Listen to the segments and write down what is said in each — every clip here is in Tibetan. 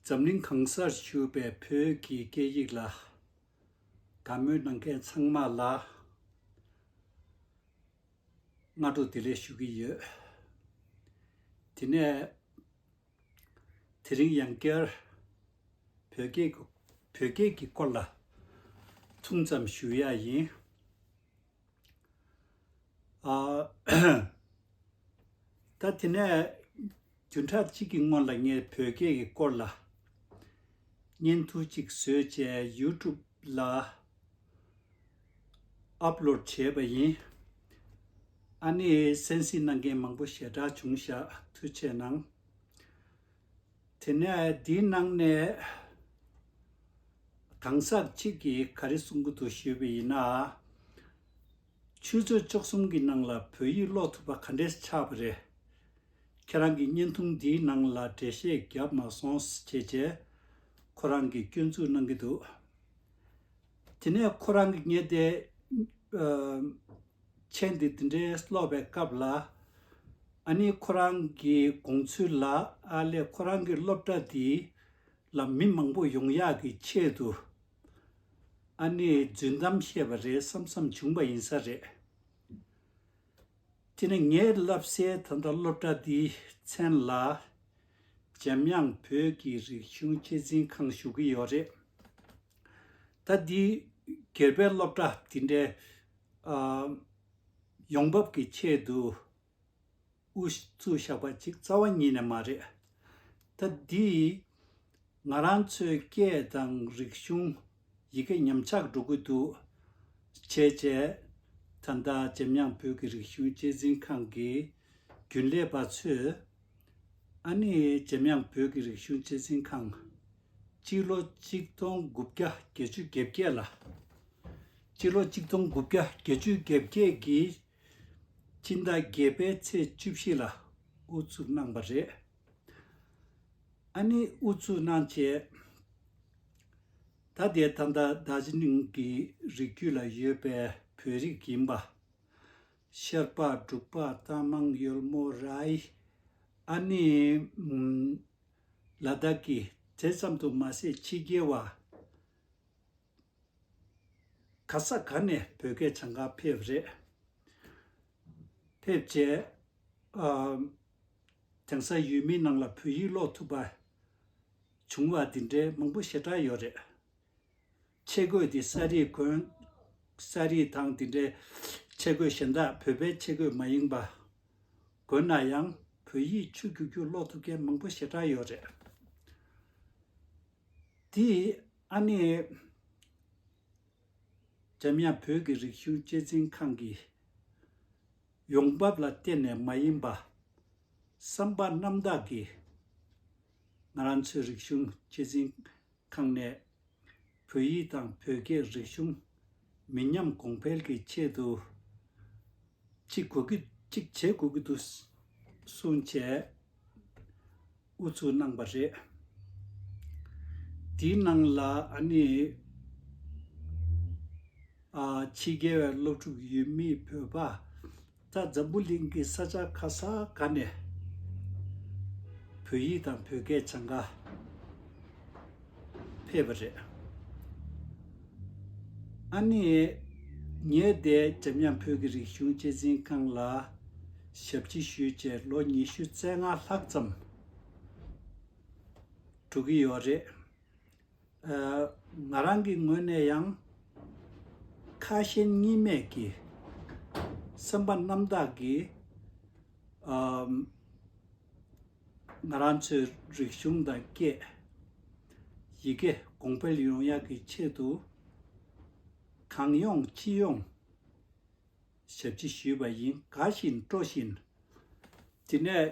འཛམ་གླིང་གང་སར་བཞུགས་པའི་བོད་ཀྱི་སྐད་ཡིག་ལ། དད་མོས་གནང་མཁན་ཚང་མ་ལ། སྔ་དྲོ་བདེ་ལེགས་ཞུ་གི་ཡོད། དེ་ནས། དེ་རིང་ཡང་བསྐྱར། བོད་སྐད་ཀྱི་སྐོར་ལ། ཐུང་ཙམ་ཞུ་ཡག་ཡིན། ད་དེ་ནས་བདུན་ཕྲག་གཅིག་གི་སྔོན་ལ་ངས་བོད་སྐད་ཀྱི་སྐོར་ལ་བརྙན་ཐུང་གཅིག་བཟོས་རྗེས YouTube ལ Upload བྱས་པ་ཡིན། ཨ་ནེས་གསན་གཟིགས་གནང་མཁན་མང་པོ་ཞེ་དྲག་བྱུང་ཞག་ཐུགས་ཆེ་གནང། དེ་ནས་དེའི་ནང་ནས་གང་ཟག་གཅིག་གིས་ག་རེ་གསུང་གི་འདུག་ཞུས་པ་ཡིན་ན། ཆུ་ཚོད་བཅུ་གསུམ་གྱི་ནང་ལ་བོད་ཡིག་ཀློག་ཐུབ་པ་ག་འདྲས་ཆགས་པ་རེད། ཁྱེད་རང་གི་བརྙན་ཐུང་འདིའི་ནང་ལ་འགྲེལ་བཤད་བརྒྱབ་མ་སོང་ཞེས་བྱས། ཁོ་རང་གིས་སྐྱོན་འཛུགས་གནང་གི་འདུག་དེ་ནས་ཁོ་རང་གིས་ངས་དེ། མཆན་འདི་འདི་འདྲའི་ཀློག་པའི་སྐབས་ལ། ཨ་ནི་ཁོ་རང་གི་དགོངས་ཚུལ་ལ་ཨ་ལས་ཁོ་རང་གི་སློབ་གྲྭ་འདི་ལ་མི་མང་པོ་ཡོང་ཡག་གི་ཆེད་དུ་ཨ་ནི་རྫུན་གཏམ་བཤད་པ་རེད་བསམ་བསམ་བྱུང་པ་ཡིན་ས་རེད། དེ་ནི་ངས་བསླབ་སའི་ད་ལྟ་སློབ་གྲྭ་འདིའི་མཚན་ལ་འཇམ་དབྱངས་བོད་ཀྱི་རིག་གཞུང་གཅེས་འཛིན་ཁང་ཞུ་གི་ཡོད་རེད། ད་འདི་སྒེར་པའི་སློབ་གྲྭ་འདི་འདྲའི་ཡོང་འབབ་ཀྱི་ཆེད་དུ་ཨུ་ཚུགས་བཞག་པ་གཅིག་རྩ་བ་ཉིད་ནས་མ་རེད། ད་འདི་ང་རང་ཚོའི་སྐད་དང་རིག་གཞུང་ཡི་གེ་ཉམས་ཆག་འགྲོ་གི་འདུག་བྱས་རྗེས་ད་ལྟ་འཇམ་དབྱངས་བོད་ཀྱི་རིག་གཞུང་གཅེས་འཛིན་ཁང་གི་རྒྱུན་ལས་པ་ཚོས་ཨ་ནི་འཇམ་དབྱངས་བོད་ཀྱི་རིག་གཞུང་གཅེས་འཛིན་ཁང། སྤྱི་ལོ་གཅིག་སྟོང་དགུ་བརྒྱ་བརྒྱད་ཅུ་བརྒྱད་བརྒྱད་ལ། སྤྱི་ལོ་གཅིག་སྟོང་དགུ་བརྒྱ་བརྒྱད་ཅུ་བརྒྱད་བརྒྱད་ཀྱི་སྤྱི་ཟླ་བརྒྱད་པའི་ཚེས་བཅུ་བཞི་ལ་དབུ་བཙུགས་གནང་བ་རེད། ཨ་ནི་དབུ་བཙུགས་གནང་རྗེས། ད་ལྟའི་ཐ་མདའ་རྡ་ཟི་ལིང་གི་རིགས་རྒྱུད་ལ་ཡོད་པའི་བོད་རིགས་ཡིན་པ། ཤར་པ་འབྲུག་པ་རྟ་མང་གཡོལ་མོ་རའི་ཨ་ནི། ལ་དྭགས་ཀྱི་དེ་ཙམ་དུ་མ་ཟད་ཕྱི་རྒྱལ་བ་ག་ས་ག་ནས་བོད་སྐད་བྱང་ཁར་ཕེབས་རེད། ཕེབས་རྗེས་དེང་སང་ཡུལ་མི་རྣམས་ལ་བོད་ཡིག་ཀློག་ཐུབ་པ་བྱུང་བ་འདི་འདྲའི་མང་པོ་ཞེ་དྲག་ཡོད་རེད། ཆས་གོས་དེ་ས་རིས་གོན། ས་རིས་དང་དེ་འདྲའི་ཆས་གོས་གཞན་དག་བོད་པའི་ཆས་གོས་མ་ཡིན་པ། གོན་ན་ཡང་བོད་ཡིག་ཆུ་རྒྱུག་རྒྱུག་ཀློག་ཐུབ་མཁན་མང་པོ་ཞེ་དྲག་ཡོད་རེད། དེ་ཨ་ནེ། འཇམ་དབྱངས་བོད་ཀྱི་རིག་གཞུང་གཅེས་འཛིན་ཁང་གི་ཡོང་འབབ་ལ་བརྟེན་ནས་མ་ཡིན་པ། བསམ་པ་རྣམ་དག་གིས་ང་རང་ཚོའི་རིག་གཞུང་གཅེས་འཛིན། ཁང་གནས། བོད་ཡིག་དང་བོད་སྐད་རིག་གཞུང། མི་ཉམས་གོང་འཕེལ་གྱི་ཆེད་དུ། གཅིག་དགོས་ཀྱི། གཅིག་བྱེད་དགོས་ཀྱི་འདུག། གསུང་བྱས། ཨུ་ཚུགས་གནང་པ་རེད། དེའི་ནང་ལ་ཨ་ནི། ཕྱི་རྒྱལ་བའི་སློབ་ཕྲུག་ཡུལ་མིའི་བོད་པ། རྩ་འཛམ་བུ་གླིང་གི་ས་ཆ་ཁ་ས་ག་ནས་བོད་ཡིག་དང་བོད་སྐད་བྱང་འགའ་ཕེབས་པ་རེད། ཨ་ནི། ངས་འདས་འཇམ་དབྱངས་བོད་ཀྱི་རིག་གཞུང་གཅེས་འཛིན་ཁང་ལ་ཞབས་ཕྱི་ཞུས་རྗེས་ལོ་ཉི་ཤུ་རྩེ་ལྔ་ལྷག་ཙམ་གྲུག་གི་ཡོད་རེད། ང་རང་གི་ངོས་ནས་ཡང། ཁ་ཞེན་གཉིས་མེད་ཀྱི་སེམས་པ་རྣམ་དག་གིས། ང་རང་ཚོའི་རིག་གཞུང་དང་སྐད་ཡི་གེ་གོང་འཕེལ་ཡོང་ཡག་གི་ཆེད་དུ། གང་ཡོང་ཅི་ཡོང་ཞབས་ཕྱི་ཞུས་པ་ཡིན་དགའ་བཞིན་སྤྲོ་བཞིན། དེ་ནས།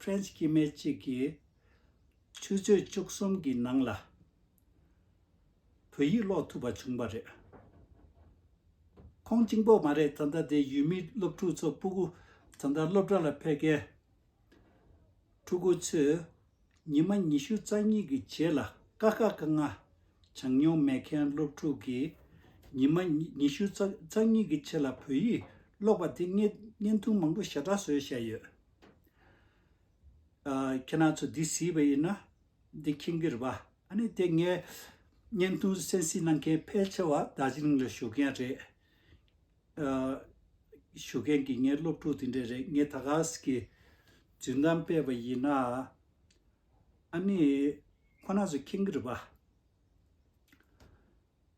French དཀྱིལ་སྨད་གཅིག་གི་ཆུ་ཚོད་བཅུ་གསུམ་གྱི་ནང་ལ་བོད་ཡིག་ཀློག་ཐུབ་པ་བྱུང་བ་རེད། ཁོང་གཅིག་པོ་མ་རེད་ད་ལྟ་དེ་ཡུལ་མི་སློབ་ཕྲུག་ཚོ་སྤུ་གུ་ད་ལྟ་སློབ་གྲྭ་ལ་ཕེབས་མཁན་ཕྲུ་གུ་ཚོས་ཉི་མ་ཉི་ཤུ་རྩ་གཉིས་ཀྱི་རྗེས་ལ་དཀའ་དཀའ་དཀའ་ངལ་བྱང་མྱོང་མེད་མཁན་སློབ་ཕྲུག་གིས་ཉི་མ་ཉི་ཤུ་རྩ་གཉིས་ཀྱི་ཆེད་ལ་བོད་ཡིག་ཀློག་པ་དེ་བརྙན་ཐུང་མང་པོ་ཞེ་དྲག་བཟོས་བཞག་ཡོད། ཁྱེད་རང་ཚོ་འདི་ཟིན་པ་ཡིན་ན། འདི་ཁྱིམ་གྱི་རེད་པ། ཨ་ནི་དེ་ངས་བརྙན་ཐུང་གསན་གཟིགས་གནང་མཁན་ཕལ་ཆེ་བ་རྡ་རྗེ་གླིང་ལ་བཞུགས་མཁན་རེད། བཞུགས་མཁན་གྱི་ངའི་སློབ་ཕྲུག་དེ་འདྲ་རེད། ངས་ད་ག་ཟིག་གི་རྫུན་གཏམ་སྤེལ་བ་ཡིན་ན། ཨ་ནི་ཁོ་ན་ཚོ་ཁྱིམ་གྱི་རེད་པ།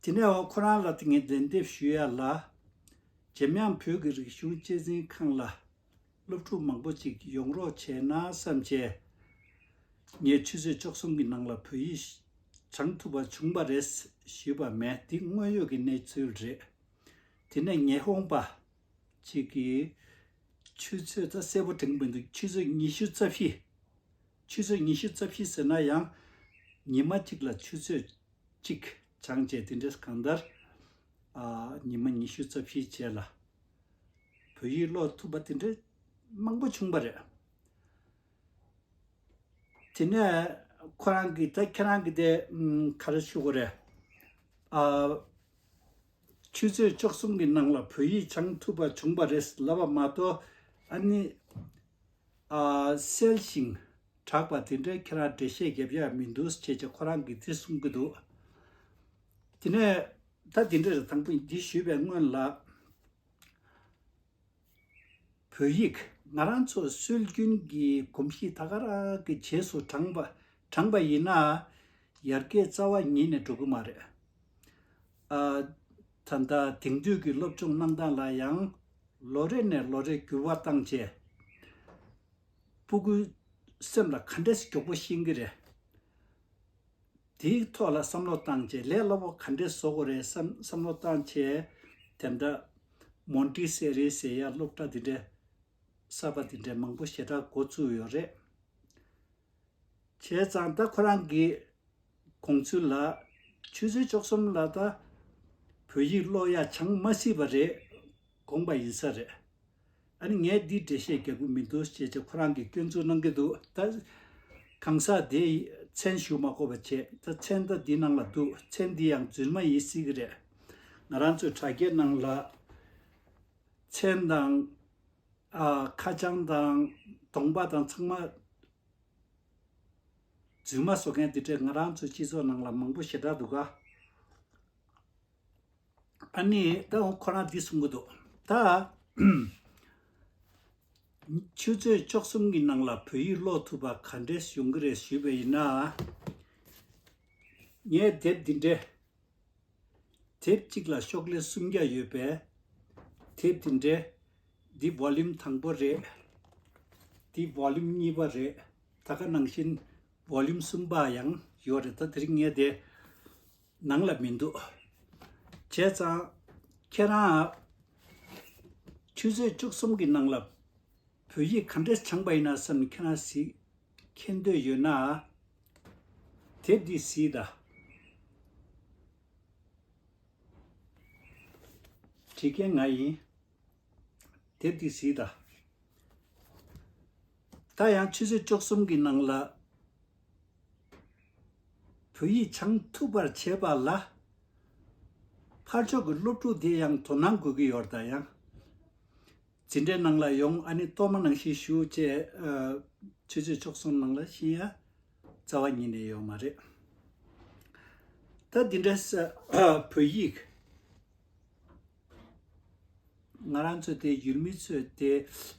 དེ་ནས་འོ་ཁོ་རང་ལ་ཏིང་ངེ་འཛིན་འདེབས་ཞུ་ཡ་ལ། འཇམ་དབྱངས་བོད་ཀྱི་རིག་གཞུང་གཅེས་འཛིན་ཁང་ལ། སློབ་ཕྲུག་མང་པོ་ཅིག་ཡོང་རོགས་བྱས་ན་བསམ་བྱས། ངས་ཆུ་ཚོད་བཅུ་གསུམ་གྱི་ནང་ལ་བོད་ཡིག་སྦྱང་ཐུབ་པ་བྱུང་བ་རེད་ཞུས་པ་མེད་འདི་དངོས་ཡོད་ཀྱི་གནས་ཚུལ་རེད། དེ་ནས་ཉི་ཧོང་པ་ཅིག་གིས། ཆུ་ཚོད་ད་གསལ་པོ་དྲན་གི་མི་འདུག་ཆུ་ཚོད་ཉི་ཤུ་རྩ་བཞི། ཆུ་ཚོད་ཉི་ཤུ་རྩ་བཞི་ཟེར་ན་ཡང་ཉི་མ་གཅིག་ལ་ཆུ་ཚོད། གཅིག། བྱང་བཅས་དེ་འདྲས་གང་ལྟར། ཉི་མ་ཉི་ཤུ་རྩ་བཞིའི་རྗེས་ལ། བོད་ཡིག་ཀློག་ཐུབ་པ་དེ་འདྲས་མང་པོ་བྱུང་བ་རེད། དེ་ནས་ཁོ་རང་གིས་ད་ཁྱེད་རང་གིས་དེ་ག་རེ་ཞུ་དགོས་རེད། ཆུ་ཚོད་བཅུ་གསུམ་གྱི་ནང་ལ་བོད་ཡིག་སྦྱང་ཐུབ་པ་བྱུང་བ་རེད་ཟེར་ལབ་པ་མ་གཏོགས་ཨ་ནི། གསལ་ཞིང་གྲགས་པ་དེ་འདྲའི་ཁྱེད་རང་འགྲེལ་བཤད་བརྒྱབ་ཡག་མི་འདུག་ཅེས་ཀྱང་ཁོ་རང་གིས་དེ་གསུང་གི་འདུག་དེ་ནས་ད་དེ་འདྲ་རེད་དང་པོ་འདི་ཞུས་པའི་སྔོན་ལ། བོད་ཡིག་ང་རང་ཚོ་སྲོལ་རྒྱུན་གྱི་གོམས་གཤིས་ད་ག་རང་གི་བྱེས་སུ་དྲངས་པ་ཡིན་ན། ཡར་རྒྱས་རྩ་བ་ཉིད་ནས་འགྲོ་གི་མ་རེད། ད་ལྟ་དེང་དུས་ཀྱི་སློབ་སྦྱོང་གནང་སྟངས་ལ་ཡང་ལོ་རེ་ནས་ལོ་རེ་འགྱུར་བ་བཏང་རྗེས། སྤུ་གུའི་སེམས་ལ་ག་འདྲས་གྱོགས་པོ་ཤེས་ཀྱི་རེད། དེའི་ཐོག་ལ་བསམ་བློ་བཏང་རྗེས་ལས་སླ་བོ་ག་འདྲས་བཟོ་དགོས་རེད་བསམ་བསམ་བློ་བཏང་རྗེས། དེ་འདྲ། མོན་ཀྲི་སེ་རི་ཟེར་ཡ་སློབ་གྲྭ་འདི་འདྲས། གསར་པ་འདི་འདྲས་མང་པོ་ཞེ་དྲག་འགོ་བཙུགས་ཡོད་རེད། བྱས་ཙང་ད་ཁོ་རང་གི་དགོངས་ཚུལ་ལ། ཆུ་ཚོད་བཅུ་གསུམ་ལ་ད་བོད་ཡིག་ཀློག་ཡ་བྱང་མ་སྲིད་པ་རེད་དགོངས་པ་ཡིན་ས་རེད། ཨ་ནི་ངས་འདིའི་འགྲེལ་བཤད་རྒྱག་གི་མི་འདུག་ཅེས་ཅེས་ཁོ་རང་གིས་སྐྱོན་འཛུགས་གནང་གི་འདུག་ད། གང་ཟག་དེས་མཚན་ཞུ་མ་གོ་བ་བྱས་ད་མཚན་ད་འདི་ནང་ལ་འདུག་མཚན་འདི་ཡང་རྫུན་མ་ཡིན་སྲིད་གི་རེད། ང་རང་ཚོའི་དྲ་རྒྱའི་ནང་ལ། མཚན་དང། ཁ་བྱང་དང། གདོང་པ་དང་ཚང་མ། རྫུན་མ་བཟོ་མཁན་དེ་འདྲས་ང་རང་ཚོའི་སྤྱི་ཚོགས་ནང་ལ་མང་པོ་ཞེ་དྲག་འདུག་ག། ཨཱ་ནི། ད་འོང་ཁོ་རང་འདི་གསུང་གི་འདུག་ད། ཆུ་ཚོད་བཅོ་གསུམ་གྱི་ནང་ལ་བོད་ཡིག་ཀློག་ཐུབ་པ་ག་འདྲས་ཡོང་གི་རེད་ཞུས་པ་ཡིན་ན། ངས་དེབ་འདི་འདྲས། དེབ་གཅིག་ལ་ཤོག་ལྷེ་སུམ་བརྒྱ་ཡོད་པས། དེབ་དེ་འདྲའི། འདི volume དང་པོ་རེད། འདི volume གཉིས་པ་རེད། ད་ལྟ་ནང་བཞིན volume གསུམ་པ་ཡང་ཡོད་རེད་ད་དེ་རིང་ངས་དེ་ནང་ལ་མི་འདུག། བྱས་ཙང་ཁྱེད་རང། ཆུ་ཚོད་བཅུ་གསུམ་གྱི་ནང་ལ་བོད་ཡིག་ག་འདྲས་འཆང་པ་ཡིན་ན་བསམ་ནས་ཁྱེད་རང་གཟིགས། མཁྱེན་འདོད་ཡོད་ན། དེབ་འདི་གཟིགས་དང། བྲིས་མཁན་ང་ཡིན། དེབ་འདི་གཟིགས་དང། ད་ཡང་ཆུ་ཚོད་བཅུ་གསུམ་གྱི་ནང་ལ། བོད་ཡིག་སྦྱང་ཐུབ་པར་བྱེད་པ་ལ། ཕར་ཕྱོགས་ཀྱི་སློབ་ཕྲུག་དེ་ཡང་དོ་སྣང་དགོས་ཀྱི་ཡོད་ད་ཡང། ཇི་འདྲའི་སྣང་ལ་ཡོང་ཨ་ནི་གཏོར་མ་ནང་བཞིན་ཞུ་ཅེས། ཆོས་རྗེ་མཆོག་གསུམ་ནང་ལ་བཞིན་ཡ། རྩ་བ་ཉིད་ནས་ཡོད་མ་རེད། ད་འདི་འདྲ་བོད་ཡིག། ང་རང་ཚོ་དེ་ཡུལ་མི་ཚོས་དེ་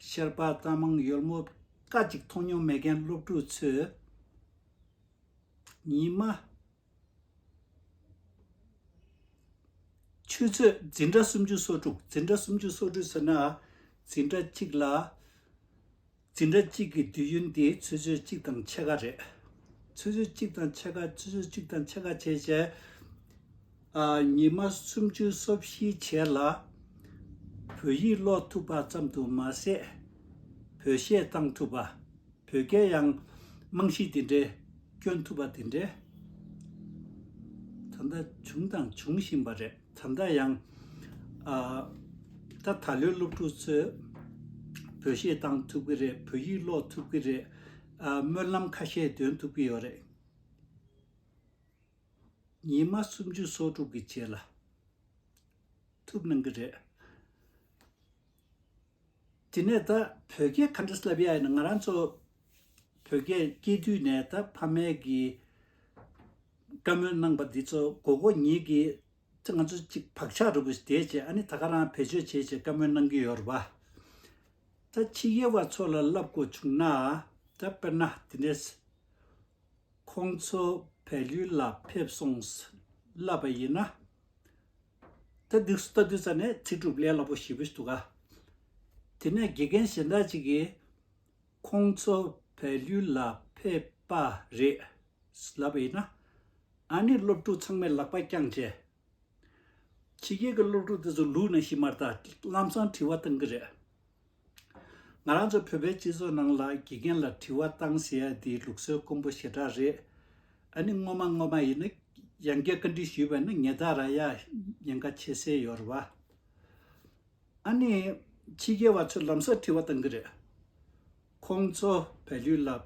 ཤེར་པ་རྟ་མང་ཡོལ་མོ་བཀའ་གཅིག་མཐོང་མྱོང་མེད་མཁན་སློབ་ཕྲུག་ཚོས། ཉི་མ། ཆུ་ཚོད་འཛིན་གྲྭ་སུམ་ཅུ་སོ་དྲུག་འཛིན་གྲྭ་སུམ་ཅུ་སོ་དྲུག་ཟེར་ན། འཛིན་གྲྭ་གཅིག་ལ། འཛིན་གྲྭ་གཅིག་གི་དུས་ཡུན་དེ་ཆུ་ཚོད་གཅིག་དང་ཕྱེད་ཀ་རེད། ཆུ་ཚོད་གཅིག་དང་ཕྱེད་ཀ་ཆུ་ཚོད་གཅིག་དང་ཕྱེད་ཀ་བྱས་བྱས། ཉིན་མ་སུམ་ཅུ་སོ་བཞི་བྱས་ལ། བོད་ཡིག་ཀློག་ཐུབ་པ་ཙམ་དུ་མ་ཟད། བོད་གཞས་གཏང་ཐུབ་པ། བོད་སྐད་ཡང། རྨང་གཞི་དེ་འདྲའི། སྐྱོན་ཐུབ་པ་དེ་འདྲའི། ད་ལྟ་བྱུང་དང་འབྱུང་བཞིན་པ་རེད། ད་ལྟ་ཡང། ད་ད་ལོའི་སློབ་ཕྲུག་ཚོས། བོད་གཞས་བཏང་ཐུབ་ཀྱི་རེད། བོད་ཡིག་ཀློག་ཐུབ་ཀྱི་རེད། སྨོན་ལམ་ཁ་ཤས་འདོན་ཐུབ་ཀྱི་ཡོད་རེད། ཉིན་མ་སུམ་ཅུ་སོ་དྲུག་གི་རྗེས་ལ། ཐུབ་གནང་གི་རེད། དེ་ནས་ད་བོད་སྐད་ག་འདྲ་བསླབ་ཡ་ཡིན་ན་ང་རང་ཚོ་བོད་སྐད་སྐྱེས་དུས་ནས་ད་ཕ་མས་གི་བཀའ་མོལ་གནང་པ་འདི་ཚོ་མགོ་གོ་ཉིད་ཀྱི་ཚེ་ང་ཚོ་ཅིག་བག་ཆགས་རུ་གུ་ཞིག་དེའི་རྗེས་ཨ་ནི་ད་ག་རང་བེད་སྤྱོད་བྱེད་ཅེས་བཀའ་མོལ་གནང་གི་ཡོད་རུ་བ། ད་ཕྱི་རྒྱལ་བ་ཚོ་ལ་བསླབ་དགོས་བྱུང་ན་ད་དཔེར་ན་དེ་ནས་ཁོང་ཚོ་བལ་ཡུལ་ལ་ཕེབས་སོང་བསླབ་པ་ཡིན་ན། ད་སྡིགས་སུ་ལྟ་དུས་ཙམ་ནས་ཚིག་གྲུབ་ལས་སླ་པོ་ཞིག་བུད་འདུག་ག། དེ་ནས་དགེ་རྒན་གཞན་དག་ཅིག་གིས། ཁོང་ཚོ་བལ་ཡུལ་ལ་ཕེབས་པ་རེད། ལབ་པ་ཡིན་ན། ཨཱ་ནི་སློབ་ཕྲུག་ཚང་མས་ལག་པ་བརྐྱངས་རྗེས། ཕྱི་རྒྱལ་གྱི་སློབ་ཕྲུག་དེ་ཚོ་ལུས་ན་ཤི་མར་ད་ལམ་སང་བྲིས་བ་བཏང་གི་རེད། ང་རང་ཚོ་བོད་པའི་སྤྱི་ཚོགས་ནང་ལ་དགེ་རྒན་ལ་དྲི་བ་བཏང་ཟེར་ཡ་འདི་ལུགས་སྲོལ་དཀོན་པོ་ཞེ་དྲག་རེད། ཨ་ནི་སྔོན་མ་སྔོན་མ་ཡིན་ན་ཡང་བསྐྱར་བཀའ་འདྲི་ཞུས་པ་ནི་ངེད་ད་ར་ཡ་ཉེན་ཁ་ཆེ་སེ་ཡོད་རེད་བ། ཨ་ནི་ཕྱི་རྒྱལ་བ་ཚོས་ལམ་སར་དྲི་བ་བཏང་གི་རེད། ཁོང་ཚོ་བལ་ཡུལ་ལ་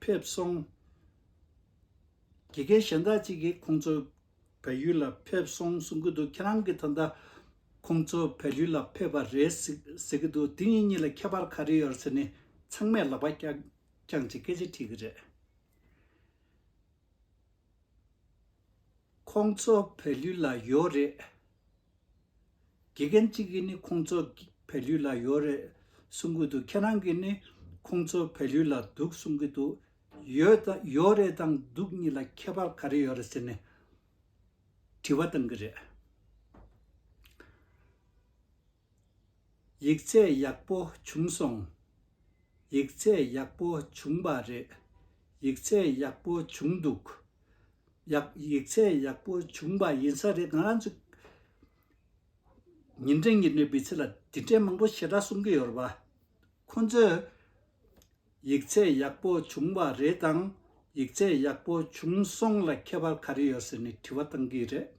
ཕེབས་སོང། དགེ་རྒན་གཞན་དག་ཅིག་གིས་ཁོང་ཚོ་བལ་ཡུལ་ལ་ཕེབས་སོང་གསུང་གི་འདུག་ཁྱེད་རང་གི་ད་ལྟ། ཁོང་ཚོ་བལ་ཡུལ་ལ་ཕེབས་པ་རེད་ཟེར་གི་འདུག་དེ་གཉིས་གཉིས་ལ་ཁྱད་པར་ག་རེ་ཡོད་ཟེར་ནས་ཚང་མས་ལག་པ་ཀྱག་ཀྱག་ཅིག་སྐད་ཆ་དྲིས་གི་རེད། ཁོང་ཚོ་བལ་ཡུལ་ལ་ཡོད་རེད། དགེ་རྒན་གཅིག་གིས་ནི་ཁོང་ཚོ་བལ་ཡུལ་ལ་ཡོད་རེད་གསུང་གི་འདུག་ཁྱེད་རང་གིས་ནི་ཁོང་ཚོ་བལ་ཡུལ་ལ་འདུག་གསུང་གི་འདུག་ཡོད་ཡོད་རེད་དང་འདུག་གཉིས་ལ་ཁྱད་པར་ག་རེ་ཡོད་རེད་ཟེར་ནས་དྲི་བ་བཏང་གི་རེད། ཡིག་ཚད་ཡག་པོ་བྱུང་སོང། ཡིག་ཚད་ཡག་པོ་བྱུང་བ་རེད། ཡིག་ཚད་ཡག་པོ་བྱུང་འདུག། ཡག་ཡིག་ཚད་ཡག་པོ་བྱུང་བ་ཡིན་ས་རེད་ང་རང་ཚོ་ཉིན་རེ་ཉིན་རེ་བུས་ཚེ་ལ་དེ་འདྲའི་མང་པོ་ཞེ་དྲག་གསུང་གི་ཡོད་རེད། ཁོང་ཚོས་ཡིག་ཚད་ཡག་པོ་བྱུང་བ་རེད་དང་ཡིག་ཚད་ཡག་པོ་བྱུང་སོང་ལ་ཁྱད་པར་ག་རེ་ཡོད་ཟེར་ནས་དྲི་བ་བཏང་གི་རེད།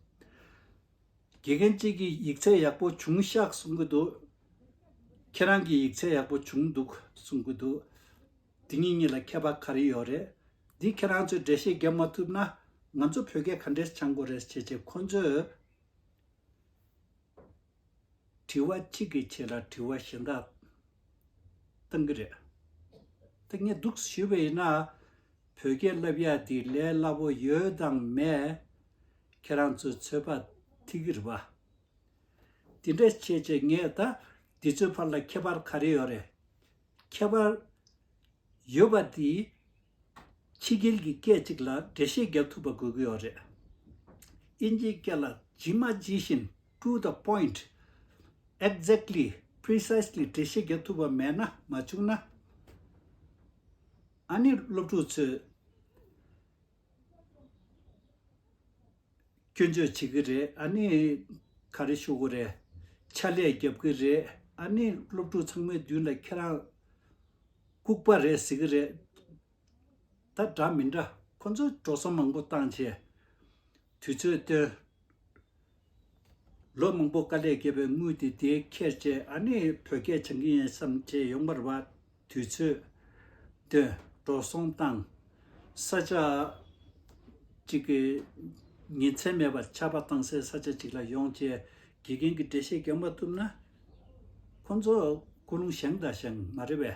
དགེ་རྒན་གཅིག་གིས་ཡིག་ཚད་ཡག་པོ་བྱུང་ཤག་གསུང་གི་འདུག། ཁྱེད་རང་གིས་ཡིག་ཚད་ཡག་པོ་བྱུང་འདུག་གསུང་གི་འདུག། འདི་གཉིས་གཉིས་ལ་ཁྱད་པར་ག་རེ་ཡོད་རེད། འདི་ཁྱེད་རང་ཚོས་འགྲེལ་བཤད་བརྒྱབ་མ་ཐུབ་ན། ང་ཚོ་བོད་སྐད་ག་འདྲས་སྦྱང་དགོས་རེད་ཅེས་བྱས་ཁོ་ཚོས། དྲི་བ་གཅིག་གི་ཆེད་ལ་དྲི་བ་གཞན་དག་བཏང་གི་རེད། ད་ངས་འདུག་ཞུས་པ་ཡིན་ན། བོད་སྐད་བསླབ་ཡག་འདི་ལས་སླ་བོ་ཡོད་དང་མེད། ཁྱེད་རང་ཚོའི་ཚོད་པ་ཐིག་རི་བ། དེ་འདྲ་བྱེད་ཅེས་ངས་ད་འདི་ཚོའི་བར་ལ་ཁྱད་པར་ག་རེ་ཡོད་རེད། ཁྱད་པར་ཡོད་པ་དེས་ཕྱི་རྒྱལ་གྱི་སྐད་ཅིག་ལ་འགྲེལ་བཤད་བརྒྱབ་ཐུབ་པ་དགོས་ཀྱི་ཡོད་རེད། དབྱིན་ཇིའི་སྐད་ལ་ཇི་མ་ཇི་བཞིན to the point exactly precisely འགྲེལ་བཤད་བརྒྱབ་ཐུབ་པ་མེད་ན་མ་བྱུང་ན། ཨ་ནི་སློབ་ཕྲུག་ཚོས་སྐྱོན་བརྗོད་བྱེད་ཀྱི་རེད་ཨ་ནི། ག་རེ་ཤོད་གི་རེད། ཕྱག་ལས་རྒྱབ་ཀྱི་རེད་ཨ་ནི། སློབ་ཕྲུག་ཚང་མའི་མདུན་ལ་ཁྱེད་རང། ལྐུགས་པ་རེད་ཟེར་གྱི་རེད། ད་འདྲ་མི་འདྲ་ཁོ་ཚོས་འགྲོ་སོང་མང་པོ་བཏང་བྱས། དུས་ཚོད་བཏོན། ལོ་མང་པོ་དཀའ་ལས་བརྒྱབ་པའི་དངུལ་དེ་དེ་ཁྱེར་རྗེས་ཨ་ནེ་བོད་སྐད་སྦྱང་གི་ཡིན་བསམ་བྱས་ཡོང་བར་བ་དུས་ཚོད། དོན། འགྲོ་སོང་བཏང། ས་ཆ། གཅིག་གི། ཉིན་མཚན་མེད་པར་ཆར་པ་བཏང་སའི་ས་ཆ་གཅིག་ལ་ཡོང་རྗེས་དགེ་རྒན་གྱི་འགྲེལ་བཤད་རྒྱག་མ་ཐུབ་ན། ཁོ་ཚོ་ཀོ་ལུང་བཞེངས་དང་བཞེངས་མ་རེད་བས།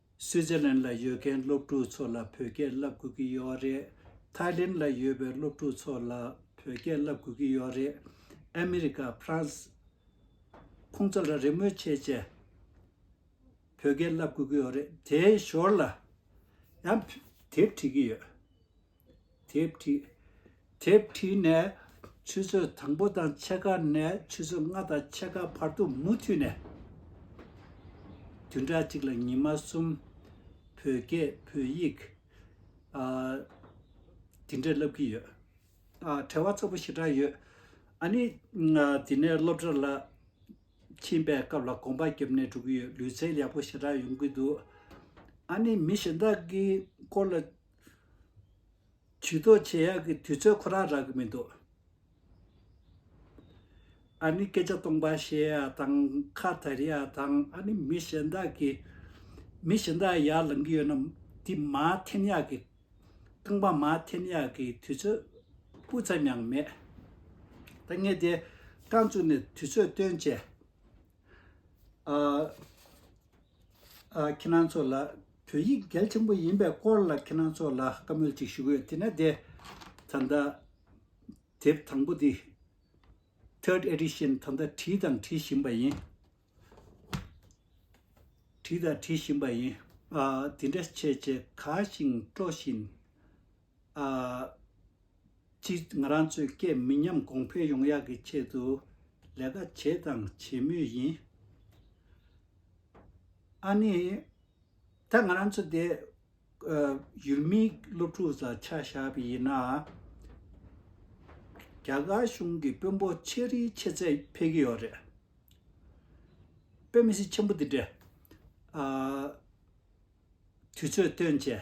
སུའི་ཛི་ལན་ལ་ཡོད་མཁན་སློབ་ཕྲུག་ཚོ་ལ་བོད་སྐད་བསླབ་དགོས་ཀྱི་ཡོད་རེད། ཐའི་ལེན་ལ་ཡོད་པའི་སློབ་ཕྲུག་ཚོ་ལ་བོད་སྐད་བསླབ་དགོས་ཀྱི་ཡོད་རེད། ཨ་མི་རི་ཀ། France། ཁོང་ཚོ་ལ་རེ་སྨོན་ཆེ་ཆེ། བོད་སྐད་བསླབ་དགོས་ཀྱི་ཡོད་རེད། དེའི་ཞོར་ལ། ཡང། དེབ་བྲིས་ཀྱི་ཡོད། དེ་བྲིས། དེ་བྲིས་ནས་ཆུ་ཚོད་དང་པོ་དང་ཕྱེད་ཀ་ནས་ཆུ་ཚོད་ལྔ་དང་ཕྱེད་ཀ་བར་དུ་མུ་མཐུད་ནས་བདུན་ཕྲག་གཅིག་ལ་ཉི་མ་གསུམ་བོད་སྐད་བོད་ཡིག་འདི་འདྲ་བསླབ་ཀྱི་ཡོད། བྲེལ་བ་ཚ་པོ་ཞེ་དྲག་ཡོད། ཨ་ནི་འདི་ནས་སློབ་གྲྭ་ལ་ཕྱིན་པའི་སྐབས་ལ་གོམ་པ་རྒྱབ་ནས་འགྲོ་གི་ཡོད་ལུས་རྩལ་ཡག་པོ་ཞེ་དྲག་ཡོང་གི་འདུག་ཨ་ནི་མི་གཞན་དག་གི་སྐོར་ལ་བྱུས་གཏོགས་བྱེད་ཡག་གི་དུས་ཚོད་ཁོ་རང་རག་གི་མི་འདུག། ཨ་ནི་སྐད་ཆ་སྟོང་པ་བཤད་ཡ་དང་ཁ་དར་ཡ་དང་ཨ་ནི་མི་གཞན་དག་གི། མི་གཞན་དག་ཡར་ལང་གི་ཡོད་ན་དེ་མ་འཐེན་ཡག་གི། རྐང་པ་མ་འཐེན་ཡག་གི་དུས་ཚོད་སྤུ་ཙམ་ཡང་མེད། ད་ངས་དེ་རྐང་བཙུགས་ནས་དུས་ཚོད་སྟོན་བྱས། ཁྱེད་རང་ཚོ་ལ་བོད་ཡིག་གལ་ཆེན་པོ་ཡིན་པའི་སྐོར་ལ་ཁྱེད་རང་ཚོ་ལ་བཀའ་མོལ་ཅིག་ཞུ་གི་ཡོད་དེ་ནས་དེ་ད་ལྟ་དེབ་དང་པོ་དེ Third Edition ད་ལྟ་བྲིས་དང་བྲི་བཞིན་པ་ཡིན། བྲིས་དང་བྲི་བཞིན་པ་ཡིན། དེ་འདྲ་བྱས་རྗེས་དགའ་ཞིང་སྤྲོ་བཞིན། གཅིག་ང་རང་ཚོའི་སྐད་མི་ཉམས་གོང་འཕེལ་ཡོང་ཡག་གི་ཆེད་དུ་ལས་ཀ་བྱས་དང་བྱེད་མུས་ཡིན། ཨ་ནི། ད་ང་རང་ཚོ་དེ། ཡུལ་མིའི་སློབ་ཕྲུག་ས་ཆ་བཞག་པ་ཡིན་ན། རྒྱ་གར་གཞུང་གི་དཔོན་པོ་ཆེ་རིའི་ཆེ་ཚད་ཕེབས་ཀྱི་ཡོད་རེད། དཔོན་མི་སེར་ཆེན་པོ་དེ་འདྲས། དུས་ཚོད་སྟོན་བྱས།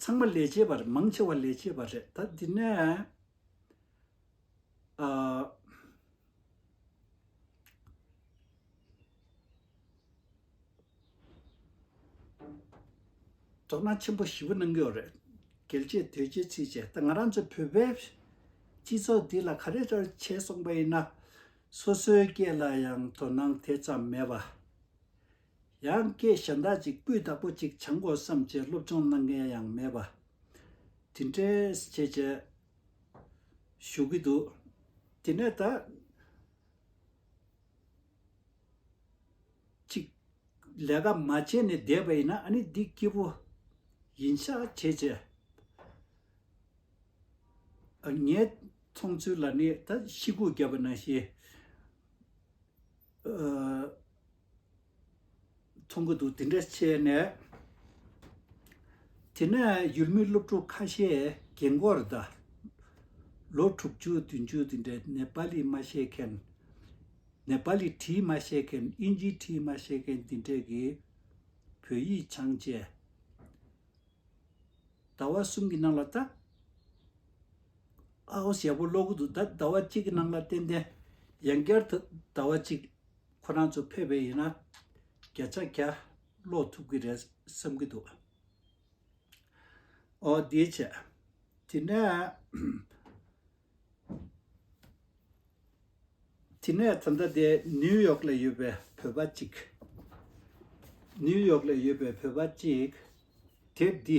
ཚང་མ་ལས་བྱེད་པ་རེད་མང་ཆེ་བ་ལས་བྱེད་པ་རེད་ད་འདི་ནས་དོ་སྣང་ཆེན་པོ་བཞི་པོ་གནང་གི་ཡོད་རེད་གལ་ཆེ་དོད་ཆེ་ཚིག་ཆེ་ད་ང་རང་ཚོ་བོད་པའི་སྤྱི་ཚོགས་འདི་ལ་ག་རེ་ལྟར་བྱས་སོང་པ་ཡིན་ན་སོ་སོའི་སྐད་ལ་ཡང་དོ་སྣང་དེ་ཙམ་མེད་པ་ཡང་སྐད་གཞན་དག་ཅིག་སྤུས་དག་པོ་གཅིག་བྱང་དགོས་བསམ་བྱས་སློབ་སྦྱོང་གནང་མཁན་ཡང་མེད་པ། དེ་འདྲའི་བྱས་བྱས་བཞུགས་ཀྱི་འདུག་དེ་ནས་ད། ཅིག་ལས་ཀ་མ་བྱས་ནས་བསྡད་པ་ཡིན་ན་ཨ་ནི་འདི་སྐྱིད་པོ་ཡིན་ཤག་བྱས་བྱས། ངའི་མཐོང་ཚུལ་ལ་ནི་ད་ཤི་སྒུག་བརྒྱབ་པ་ན་ཤི། མཐོང་གི་འདུག་དེ་འདྲ་བྱས་ནས། དེ་ནས་ཡུལ་མི་སློབ་ཕྲུག་ཁ་ཤས་རྒན་མགོར་ཟླ། ལོ་དྲུག་ཅུ་བདུན་ཅུ་དེ་འདྲའི་ནེ་པ་ལི་མ་ཤེས་མཁན། ནེ་པ་ལི་བྲིས་མ་ཤེས་མཁན་ཨིན་ཇིའི་བྲིས་མ་ཤེས་མཁན་དེ་འདྲས་ཀྱིས་བོད་ཡིག་འཆང་བྱས། ཟླ་བ་གསུམ་གྱི་ནང་ལ་ད། ཨའོ་ཞེ་པོ་ཀློག་གི་འདུག་ད་ཟླ་བ་གཅིག་གི་ནང་ལ་ཏན་ཏན་ཡང་བསྐྱར་དུ་ཟླ་བ་གཅིག་ཁོ་རང་ཚོ་ཕེབས་པས་ཡིན་ན། རྒྱ་ཚ་རྒྱ། ལོག་ཐུབ་ཀྱི་རེད་བསམ་གྱི་འདུག། ཨོ་དེའི་ཕྱིར། དེ་ནས། དེ་ནས་ད་ལྟ་དེ་ནིའུ་ཡོག་ལ་ཡོད་པའི་བོད་པ་གཅིག། ནིའུ་ཡོག་ལ་ཡོད་པའི་བོད་པ་གཅིག། དེབ་འདི་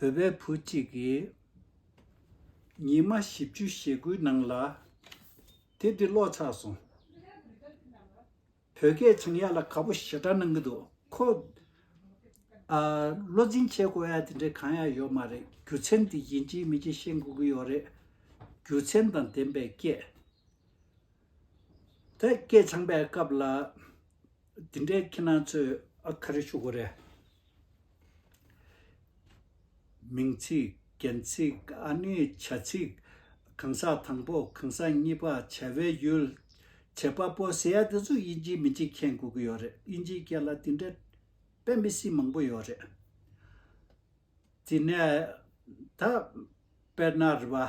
བོད་པའི་བུ་གཅིག་གིས། ཉིན་མ་བཞི་བཅུ་ཞེ་དགུའི་ནང་ལ། དེབ་དེ་ཀློག་ཚར་སོང། བོད་སྐད་བྱང་ཡག་ལ་ག་པོ་ཞེ་དྲག་གནང་གི་འདུག་ཁོ། བློ་འཛིན་བྱེད་དགོས་ཡ་དེ་འདྲའི་གང་ཡག་ཡོད་མ་རེད་རྒྱུ་མཚན་དེ་ཡིན་གྱི་མིན་གྱི་ཤེས་དགོས་ཀྱི་ཡོད་རེད། རྒྱུ་མཚན་དང་ལྡན་པའི་སྐད། ད་སྐད་བྱང་པའི་སྐབས་ལ། དེ་འདྲའི་ཁྱེད་རང་ཚོས་ཨ་ཁ་རེ་ཞུ་དགོས་རེད། མིང་ཚིག། རྒྱན་ཚིག། ཨ་ནི་བྱ་ཚིག། གང་ཟག་དང་པོ་གང་ཟག་གཉིས་པ་བྱ་བའི་ཡུལ། བྱེད་པ་པོ་ཟེར་ཡ་དེ་ཚོ་དབྱིན་ཇིའི་མི་གཅིག་མཁྱེན་དགོས་ཀྱི་ཡོད་རེད་དབྱིན་ཇིའི་སྐད་ལ་དེ་འདྲའི་དཔེ་མི་སྲིད་མང་པོ་ཡོད་རེད། དེ་ནས་ད། དཔེར་ན་རི་བ།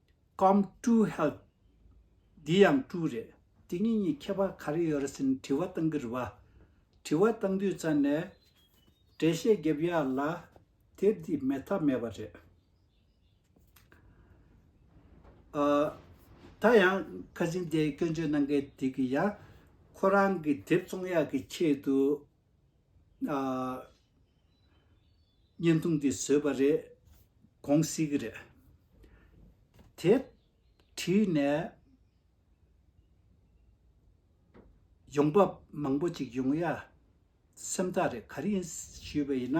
Come to hell། འདི་ཡང་སྤྲུལ་རེད། དེ་གཉིས་གཉིས་ཁྱད་པར་ག་རེ་ཡོད་རེད་ཟེར་ནས་དྲི་བ་བཏང་གི་རེད་བ། དྲི་བ་བཏང་དུས་རྩ་ནས། འགྲེལ་བཤད་བརྒྱབ་ཡག་ལ། དེབ་འདི་མེད་ཐབས་མེད་པ་རེད། ད་ཡང་ཁ་ཆེམས་དེ་སྐྱོན་བརྗོད་གནང་མཁན་དེ་གིས་ཡང། ཁོ་རང་གི་དེབ་བཙོང་ཡག་གི་ཆེད་དུ། བརྙན་ཐུང་འདི་བཟོས་པ་རེད། གོང་སྲིད་ཀྱི་རེད། དེ་བྲིས་ནས་ཡོང་འབབ་མང་པོ་ཅིག་ཡོང་ཡ་སེམས་ཐག་རེད་ག་རེ་ཡིན་ཞུས་པ་ཡིན་ན།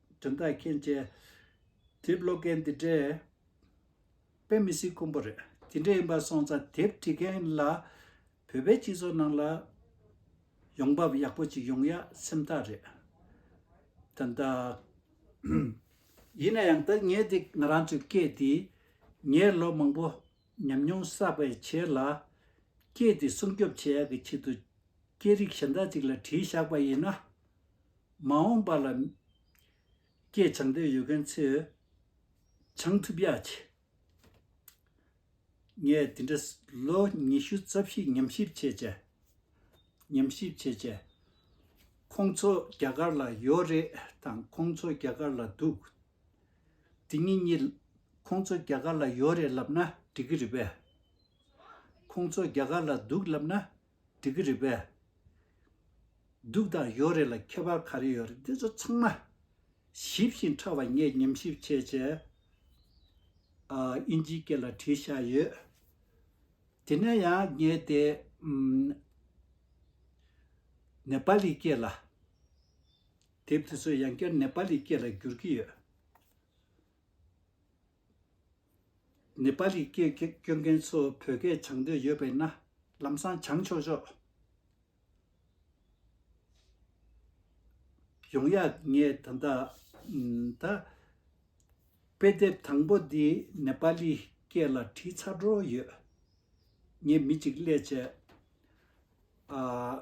དྲན་རྟགས་མཁན་བཅས། དེབ་ཀློག་མཁན་འདི་འདྲས་དཔེ་མི་སྲིད་ཁོམ་པོ་རེད། ཇི་འདྲས་ཡིན་པ་སོང་ཙང་དེབ་འབྲི་མཁན་ལ། བོད་པའི་སྤྱི་ཚོགས་ནང་ལ། ཡོང་འབབ་ཡག་པོ་ཅིག་ཡོང་ཡ་སེམས་ཐག་རེད། དོན་དག། ཡིན་ན་ཡང་ད་ངས་འདི་ང་རང་ཚོའི་སྐད་འདི། ངས་ལོ་མང་པོ་ཉམས་མྱོང་བསགས་པའི་ཕྱིར་ལ། སྐད་དེ་སྲུང་སྐྱོབ་བྱེད་ཡག་གི་ཆེད་དུ། སྐད་རིགས་གཞན་དག་ཅིག་ལ་བྲིས་བཞག་པ་ཡིན་ན། མ་འོངས་པ་ལ། སྐད་བྱང་འདོད་ཡོད་མཁན་ཚོས། བྱང་ཐུབ་ཡག་ཆེ། ངས་དེ་འདྲ། ལོ་ཉི་ཤུ་རྩ་བཞི་ཉམས་ཞིབ་བྱས་བྱས། ཉམས་ཞིབ་བྱས་བྱས། ཁོང་ཚོ་རྒྱ་གར་ལ་ཡོད་རེད་དང་ཁོང་ཚོ་རྒྱ་གར་ལ་འདུག་འདི་ངེད་གཉིས། ཁོང་ཚོ་རྒྱ་གར་ལ་ཡོད་རེད་ལབ་ན་འགྲིག་གི་རེད་པས། ཁོང་ཚོ་རྒྱ་གར་ལ་འདུག་ལབ་ན་འགྲིག་གི་རེད་པས། འདུག་དང་ཡོད་རེད་ལ་ཁྱད་པར་ག་རེ་ཡོད་རེད་འདི་ཚོ་ཚང་མ། ཞིབ་བཞིན་ཕྲ་བ་ངས་ཉམས་ཞིབ་བྱས་བྱས། ཨིན་ཇིའི་སྐད་ལ་བྲིས་བཞག་ཡོད། དེ་ནས་ཡང་ངས་དེ། ནེ་པ་ལི་སྐད་ལ། དེབ་དེ་ཚོ་ཡང་བསྐྱར་ནེ་པ་ལི་སྐད་ལ་བསྒྱུར་གྱི་ཡོད། ནེ་པ་ལི་སྐད་སྐྱོན་མཁན་ཚོ་བོད་སྐད་སྦྱང་འདོད་ཡོད་པས་ན་ལམ་སང་སྦྱང་ཆོག་ཆོག། ཡོང་ཡ་ངས་ད་ལྟ། ད། དཔེ་དེབ་དང་པོ་འདི་ནེ་པ་ལི་སྐད་ལ་བྲིས་ཚར་འགྲོ་ཡོད། ངས་མི་གཅིག་སླད་བྱས།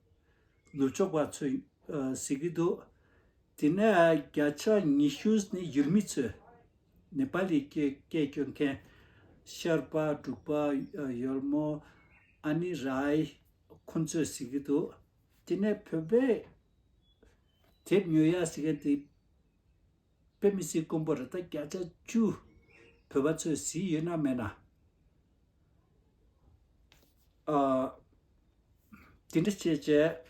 ནུབ་ཕྱོགས་པ་ཚོས་ཟེར་གྱི་འདུག་དེ་ནས་བརྒྱ་ཆ་ཉི་ཤུ་ནི་ཡུལ་མི་ཚོས་ནེ་པ་ལི་སྐད་སྐྱོན་མཁན། ཤར་པ་དྲུག་པ་ཡོལ་མོ་ཨ་ནི་རའི་ཁོང་ཚོས་ཟེར་གྱི་འདུག་དེ་ནས་བོད་པའི་དེབ་ཉོ་ཡ་ཟེར་མཁན་དེ་དཔེ་མི་སྲིད་ཀོང་པོ་རི་དྭགས་བརྒྱ་ཆ་བཅུ། བོད་པ་ཚོས་ཟིལ་ཡོད་ན་མེད་ན། དེ་འདྲ་བྱས་བྱས།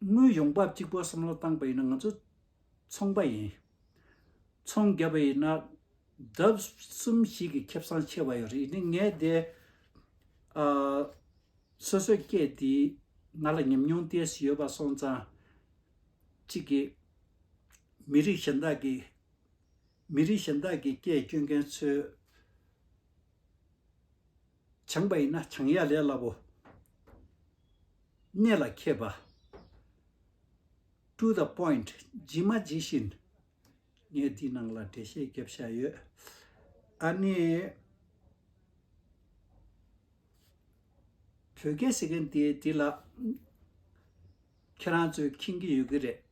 དངོས་ཡོང་འབབ་གཅིག་པོ་བསམ་བློ་བཏང་པ་ཡིན་ན་ང་ཚོ་ཚོང་པ་ཡིན། ཚོང་བརྒྱབ་པ་ཡིན། ལྡབ་གསུམ་ཞིག་གི་ཁེབས་སང་ཆེ་བ་ཡོད་རེད་ནི་ངས་དེ། སོ་སོའི་སྐད་དེ་ང་ལ་ཉམས་མྱོང་སྟེར་བཞིན་ཡོད་པ་སོང་ཙང། གཅིག་གིས། མི་རིགས་གཞན་དག་གི། མི་རིགས་གཞན་དག་གི་སྐད་སྐྱོན་མཁན་ཚོའི། བྱང་པ་ཡིན་ན་བྱང་གཡག་ལས་སླ་བོ། གནད་ལ་མཁས་པ། to the point ཇི་མ་ཇི་བཞིན། ངས་འདིའི་ནང་ལ་འགྲེལ་བཤད་བརྒྱབ་བཞག་ཡོད། ཨཱ་ནི། བོད་སྐད་ཟེར་མཁན་དེ་དེ་ལ། ཁྱེད་རང་ཚོས་མཁྱེན་གྱི་ཡོད་ཀྱི་རེད།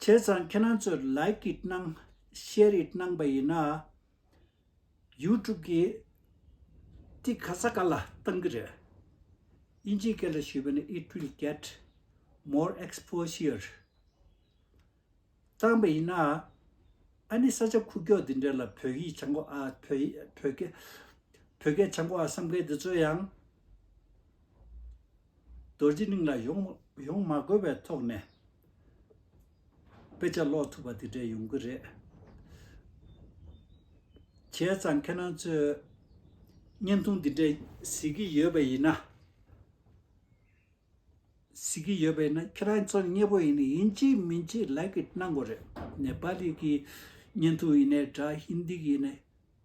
བྱས་ཙང་ཁྱེད་རང་ཚོས Like it གནང Share it གནང་པ་ཡིན་ན། YouTube གིས་ཏི་ག་ས་ག་ལ་གཏང་གི་རེད། དབྱིན་ཇིའི་སྐད་ལ་ཞུས་པ་ནི It will get more exposure གཏང་པ་ཡིན་ན། ཨ་ནི་ས་ཆ་ཁུག་ཀྱོག་འདི་འདྲ་ལ་བོད་ཡིག་བྱང་གོ་ཨ་བོད་སྐད་བྱང་གོ་ཨ་བསམ་མཁན་འདི་ཚོ་ཡང། རྡོ་རྗེ་གླིང་ལ་ཡོང་མ་དགོས་པའི་ཐོག་ནས་དཔེ་ཆ་ཀློག་ཐུབ་པ་དེ་འདྲས་ཡོང་གི་རེད། བྱས་ཙང་ཁྱེད་རང་ཚོས་བརྙན་ཐུང་འདི་འདྲས་གཟིགས་ཀྱི་ཡོད་པ་ཡིན་ན། གཟིགས་ཀྱི་ཡོད་པ་ཡིན་ན་ཁྱེད་རང་ཚོ་མཉེས་པོ་ཡིན་ཡིན་གཅིག་མིན་གཅིག་ལེགས་ཀྱི་གནང་དགོས་རེད། ནེ་པ་ལི་གི་བརྙན་ཐུང་ཡིན་ནའི་འདྲ་ཧིན་དི་གི་ཡིན་ནའི་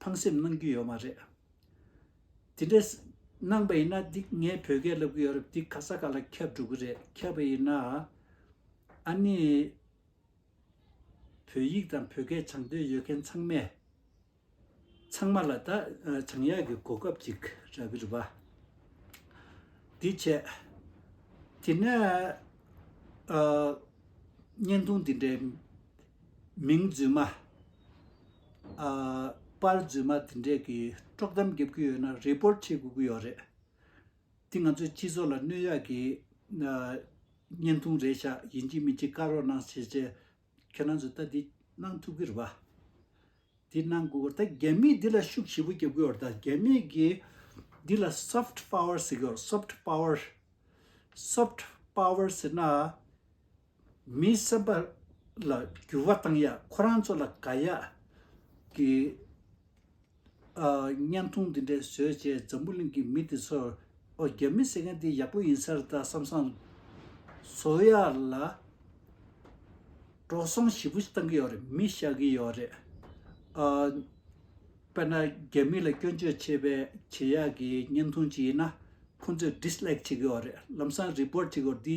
ཕངས་སེམས་གནང་རྒྱུ་ཡོད་མ་རེད། དེ་འདྲ། གནང་པ་ཡིན་ན་འདི་ངས་བོད་སྐད་ལབ་གི་ཡོད་རབས་འདི་ག་ས་ག་ལ་ཁྱབ་འགྲོ་གི་རེད་ཁྱབ་པ་ཡིན་ན། ཨ་ནི། བོད་ཡིག་དང་བོད་སྐད་སྦྱང་འདོད་ཡོད་མཁན་ཚང་མས། ཚང་མ་ལ་ད་བྱང་ཡག་གི་གོ་སྐབས་ཅིག་རག་གི་རེད་པ། འདི་བྱས། དེ་ནས། བརྙན་ཐུང་འདི་འདྲའི། མིང་རྫུན་མ། པར་རྫུན་མ་དེ་འདྲས་ཀྱི་དཀྲོག་གཏམ་རྒྱབ་ཀྱི་ཡོད་ན Report བྱེད་དགོས་ཀྱི་ཡོད་རེད། དེ་ང་ཚོའི་སྤྱི་ཚོགས་ལ་གནོད་ཡག་གི་བརྙན་ཐུང་རེད་ཤག་ཡིན་གཅིག་མིན་གཅིག་བཀག་རོགས་གནང་བྱས་རྗེས་ཁྱེད་རང་ཚོས་ལྟ་འདི་གནང་ཐུབ་ཀྱི་རེད་པ། དེ་གནང་དགོས་ཀྱི་ད་རྒྱ་མིས་འདི་ལ་ཤུགས་ཞེ་པོ་རྒྱབ་ཀྱི་ཡོད་ད་རྒྱ་མིས་ཀྱི་འདི་ལ Soft Power ཟེར་གྱི་ཡོད Soft Power Soft Power ཟེར་ན། མི་བསད་པ་ལ་འགྱུར་བ་བཏང་ཡག་ཁོ་རང་ཚོ་ལ་དགའ་ཡག་གི་བརྙན་ཐུང་འདི་འདྲ་བཟོས་རྗེས་འཛམ་བུ་གླིང་གི་མི་དེ་ཚོར་ཨོ་རྒྱ་མི་ཟེར་མཁན་འདི་ཡག་པོ་ཡིན་ས་རེད་ད་བསམ་བསམ་བཟོ་ཡག་ལ་འགྲོ་སོང་ཞིབ་པོ་བཏང་གི་ཡོད་རེད་མི་ཤ་གི་ཡོད་རེད་དཔེར་ན་རྒྱ་མི་ལ་སྐྱོན་བརྗོད་བྱེད་པའི་བྱེད་ཡག་གི་བརྙན་ཐུང་ཅིག་ཡིན་ན་ཁོང་ཚོས dislike བྱེད་ཀྱི་ཡོད་རེད་ལམ་སང report བྱེད་དགོས་འདི་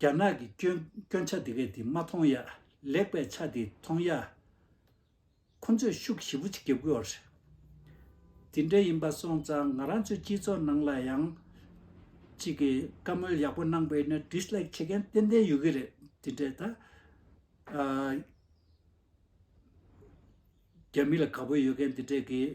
རྒྱ་ནག་གི་སྐྱོན་ཆ་དེ་གས་དེ་མ་མཐོང་ཡ། ལེགས་པའི་ཆ་དེ་མཐོང་ཡ། ཁོ་ཚོས་ཤུགས་ཞི་བོ་ཅིག་རྒྱབ་དགོས་པ་རེད། དེ་འདྲ་ཡིན་པ་སོང་ཙང་ང་རང་ཚོའི་སྤྱི་ཚོགས་ནང་ལ་ཡང། ཅིག་གིས་བཀའ་མོལ་ཡག་པོ་གནང་པས་ན Dislike བྱེད་མཁན་ཏན་ཏན་ཡོད་ཀྱི་རེད་དེ་འདྲས་ད། རྒྱ་མི་ལ་དགའ་པོ་ཡོད་མཁན་དེ་འདྲས་ཀྱིས།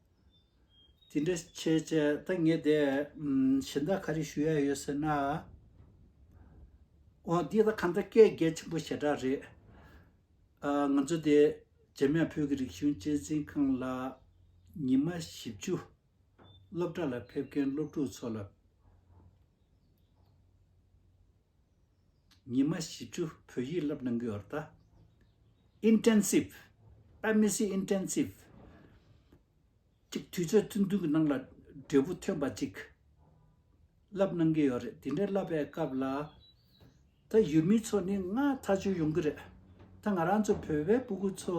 དེ་འདྲ་བྱས་བྱས་ད་ངས་དེ་གཞན་དག་ག་རེ་ཞུ་ཡ་ཡོད་ཟེར་ན། འོ་འདི་ད་གང་ལྟར་སྐད་རྒྱལ་ཆེན་པོ་ཞེ་དྲག་རེད། ང་ཚོ་དེ་རྗེ་མེས་བོད་ཀྱི་རིག་གཞུང་གཅེས་འཛིན་ཁང་ལ་ཉི་མ་བཞི་བཅུ་སློབ་གྲྭ་ལ་ཕེབས་མཁན་སློབ་ཕྲུག་ཚོ་ལ། ཉི་མ་བཞི་བཅུ་བོད་ཡིག་བསླབ་གནང་གི་འོད་ལྟ། Intensive། Amnesty Intensive། གཅིག་དུས་ཚོད་ཐུང་ཐུང་གི་ནང་ལ་འབྲས་བུ་ཐོན་པ་ཅིག་བསླབ་གནང་གི་ཡོད་རེད་དེ་འདྲ་བསླབ་པའི་སྐབས་ལ། ད་ཡུལ་མི་ཚོ་ནི་སྔ་ཐག་ཆོད་ཡོང་གི་རེད། ད་ང་རང་ཚོ་བོད་པའི་སྤུ་གུ་ཚོ་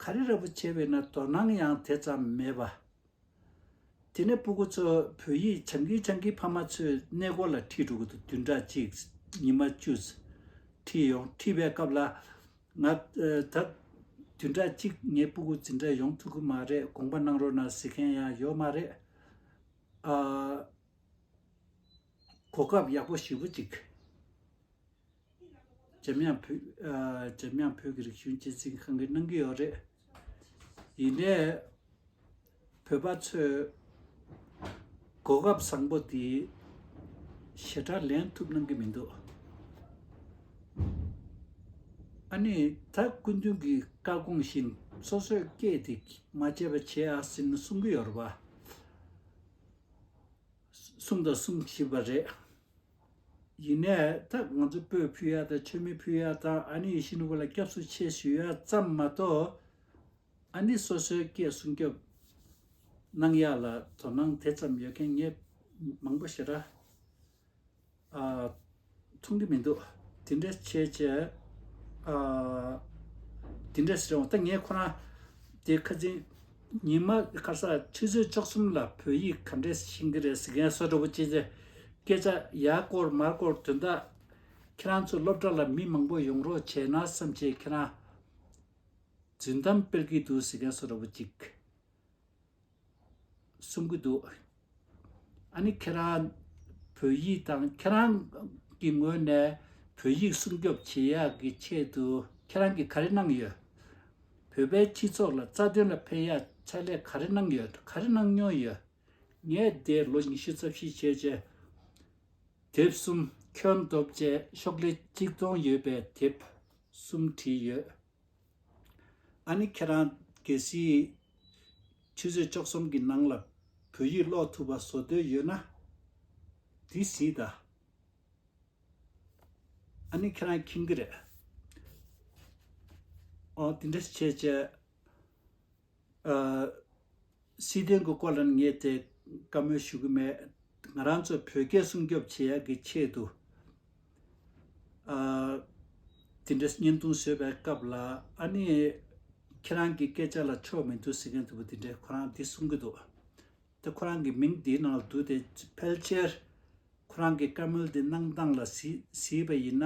ག་རེ་ར་བུ་བྱས་པའི་ན་དོ་སྣང་ཡང་དེ་ཙམ་མེད་པ། དེ་ནས་སྤུ་གུ་ཚོ་བོད་ཡིག་བྱང་གི་བྱང་གི་ཕ་མ་ཚོས་གནས་སྐོར་ལ་ཁྲིད་འགྲོ་གི་འདུག་བདུན་ཕྲག་གཅིག་ཉི་མ་བཅུ། ཁྲིད་ཡོང་ཁྲིད་པའི་སྐབས་ལ། ང། ད། བདུན་ཕྲག་གཅིག་ངས་སྤུ་གུ་འཛིན་གྲྭ་ཡོང་ཐུབ་གི་མ་རེད་དགོངས་པ་གནང་རོགས་གནང་ཟེར་མཁན་ཡང་ཡོད་མ་རེད། ཨ། གོ་སྐབས་ཡག་པོ་ཞིབ་པོ་ཅིག། འཇམ་དབྱངས་བོད་ཀྱི་རིག་གཞུང་སྤྱི་ཚིགས་གང་གིས་གནང་གི་ཡོད་རེད། ཡིན་ནས་བོད་པ་ཚོས་གོ་སྐབས་བཟང་པོ་དེ་ཞེ་དྲག་ལེན་ཐུབ་གནང་གི་མི་འདུག། ཨ་ནི་ད་སྐུ་མདུན་གྱི་བཀའ་དགོངས་བཞིན་སོ་སོས་སྐད་དེ་མ་བརྗེད་པ་བྱེད་ཨ་ཟེར་ནས་གསུང་གི་ཡོད་རེད་པ། གསུང་དང་གསུང་བཞིན་པ་རེད། ཡིན་ནའི་ད་ང་ཚོ་སྤོས་ཕུལ་ཡ་དང་མཆོད་མེ་ཕུལ་ཡ་དང་ཨ་ནི་ཡི་ཤི་ནུ་བ་ལ་སྐྱབས་སུ་མཆི་ཞུ་ཡ་ཙམ་མ་གཏོགས། ཨ་ནི་སོ་སོའི་སྐད་གསུང་སྐྱོབས་གནང་ཡ་ལ་དོ་སྣང་དེ་ཙམ་ཡོད་མཁན་ངས་མང་པོ་ཞེ་དྲག་མཐོང་གི་མི་འདུག་དེ་འདྲ་བྱས་བྱས་དེ་འདྲ་ཟེར་རུང་ད་ངས་ཁོ་རང་དེ་ཁ་འཛིང་ཉི་མ་ཁར་ས་ཁྲི་ཚོས་བཅུ་གསུམ་ལ་བོད་ཡིག་ག་འདྲས་ཤེས་ཀྱི་རེད་ཟེར་མཁན་བསོད་བྲོ་བོ་ཅེས་ཅེས། སྐད་ཆ་ཡག་སྐོར་མར་སྐོར་དོན་དག། ཁྱེད་རང་ཚོ་སློབ་གྲྭ་ལ་མི་མང་པོ་ཡོང་རོགས་བྱས་ན་བསམ་བྱས་ཁྱེད་རང། རྫུན་གཏམ་སྤེལ་གྱི་འདུག་ཟེར་མཁན་བསོད་བྲོ་བོ་ཅིག། གསུང་གི་འདུག། ཨཱ་ནི་ཁྱེད་རང་བོད་ཡིག་དང་ཁྱེད་རང་གི་ངོས་ནས་བོད་ཡིག་སྲུང་སྐྱོབ་བྱེད་ཡག་གི་ཆེད་དུ་ཁྱེད་རང་གི་ག་རེ་གནང་ཡོད། བོད་པའི་སྤྱི་ཚོགས་ལ་རྩ་དོན་ལ་ཕན་ཡག་ཕྱག་ལས་ག་རེ་གནང་ཡོད་ག་རེ་གནང་མྱོང་ཡོད། ངས་འདས་ལོ་ཉི་ཤུ་རྩ་བཞི་བྱས་རྗེས་དེབ་གསུམ་ཁྱོན་བསྡོམས་བཅས་ཤོག་ལྷེ་གཅིག་སྟོང་ཡོད་པའི་དེབ་གསུམ་བྲིས་ཡོད། ཨ་ནི་ཁྱེད་རང་གལ་སྲིད། ཆུ་ཚོད་བཅོ་གསུམ་གྱི་ནང་ལ་བོད་ཡིག་ཀློག་ཐུབ་པ་བཟོ་འདོད་ཡོད་ན། དེ་སྲིད་ད། ཨ་ནི་ཁྱེད་རང་ཁྱིམ་གྱི་རེད། ཨོ་དེ་འདྲ་བྱས་བྱས། སྲིད་དོན་གྱི་སྐོར་ལ་ནི་ངས་དེ་བཀའ་མོལ་ཞུ་གི་མེད། ང་རང་ཚོ་བོད་སྐད་སྲུང་སྐྱོབ་བྱེད་ཡག་གི་ཆེད་དུ། དེ་འདྲའི་བརྙན་ཐུང་བཟོས་པའི་སྐབས་ལ་ཨ་ནི། ཁྱེད་རང་གི་སྐད་ཆ་ལ་ཆོ་མི་འདུག་ཟེར་མཁན་དེ་བོ་དེ་འདྲས་ཁོ་རང་དེ་གསུང་གི་འདུག་དེ་ཁོ་རང་གི་མིང་དེའི་ནང་ལ་འདུག་དེ་ཕལ་ཆེར། ཁོ་རང་གི་བཀའ་མོལ་དེ་གནང་སྟངས་ལ་གཟིགས་པ་ཡིན་ན།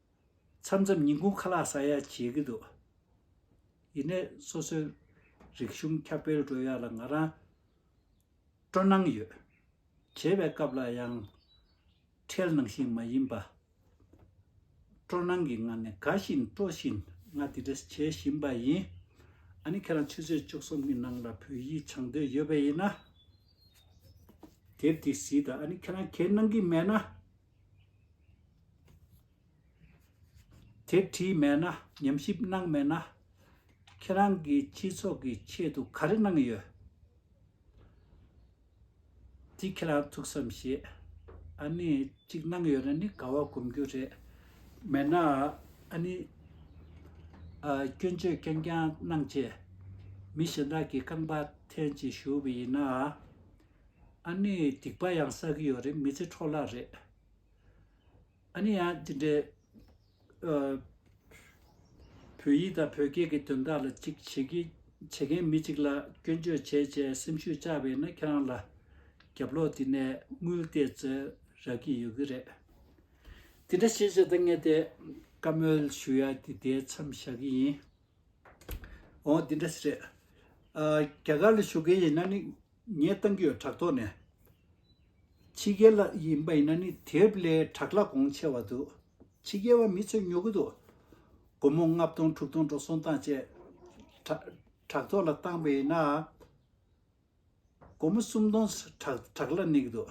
མཚམས་མཚམས་ཉིན་གུང་ཁ་ལག་ཟ་ཡག་བྱེད་ཀྱི་འདུག་ཡིན་ནས་སོ་སོའི་རིག་གཞུང་ཁྱབ་སྤེལ་འགྲོ་ཡག་ལ་ང་རང་སྤྲོ་སྣང་ཡོད། བྱེད་པའི་སྐབས་ལ་ཡང་ཁྲེལ་ནང་བཞིན་མ་ཡིན་པ། སྤྲོ་སྣང་གི་ངང་ནས་དགའ་བཞིན་སྤྲོ་བཞིན་ང་དེ་འདྲས་བྱེད་བཞིན་པ་ཡིན། ཨ་ནི་ཁྱེད་རང་ཆུ་ཚོད་བཅུ་གསུམ་གྱི་ནང་ལ་བོད་ཡིག་སྦྱང་འདོད་ཡོད་པ་ཡིན་ན། དེབ་དེ་བཟི་དང་ཨ་ནི་ཁྱེད་རང་གས་གནང་གི་མེད་ན། དེ་བྲིས་མེད་ན་ཉམས་ཞིབ་གནང་མེད་ན། ཁྱེད་རང་གི་སྤྱི་ཚོགས་ཀྱི་ཆེད་དུ་ག་རེ་གནང་ཡོད། དེ་ཁྱེད་རང་ཐུགས་བསམ་བཞེས། ཨ་ནི་གཅིག་གནང་ཡོད་ན་ནི་དགའ་བ་སྒོམ་རྒྱུ་རེད། མེད་ན་ཨ་ནི། སྐྱོན་བརྗོད་རྐྱང་རྐྱང་གནང་རྗེས། མི་གཞན་དག་གི་རྐང་པ་འཐེན་ཅིག་ཞུ་བ་ཡིན་ན། ཨ་ནི་སྡིག་པ་ཡང་བསགས་ཀྱི་ཡོད་རེད་མི་ཚེ་འཕྲོ་བརླག་རེད། ཨ་ནི་ཡང་དེ་འདྲའི། བོད་ཡིག་དང་བོད་སྐད་ཀྱི་དོན་དག་ལ་ཅིག་བྱེད་ཀྱི་བྱེད་མཁན་མི་ཅིག་ལ་སྐྱོན་བརྗོད་བྱེད་ཅེས་སེམས་ཤུགས་བཅག་པས་ན་ཁྱེད་རང་ལ་རྒྱབ་ལོག་དེ་ནས་དངུལ་བལྟས་ཚོད་རག་གི་ཡོད་ཀྱི་རེད། དེ་འདྲ་ཞེས་བྱས་ད་ངས་དེ་བཀའ་མོལ་ཞུ་ཡ་དེ་དེའི་མཚམས་བཞག་གི་ཡིན། འོ་དེ་འདྲ་ཞིག་རེད། རྒྱ་གར་ལ་བཞུགས་མཁན་ཡིན་ན་ནི་ངས་བཏང་གི་ཡོད་བྲག་ཐོག་ནས། ཕྱི་རྒྱལ་ལ་ཡིན་པ་ཡིན་ན་ནི་དེབ་ཀླད་བྲག་ལ་གོང་ཆེ་བ་འདུག་ཕྱི་རྒྱལ་བ་མི་ཚོས་ཉོ་གི་འདུག་སྒོར་མོ་ལྔ་བདུན་དྲུག་བདུན་འགྲོ་སོང་སྟངས་བཅས། བྲག་ཐོག་ལ་བཏང་བས་ན། སྒོར་མོ་སུམ་སྟོང་བྲག་ལ་གནས་ཀྱི་འདུག།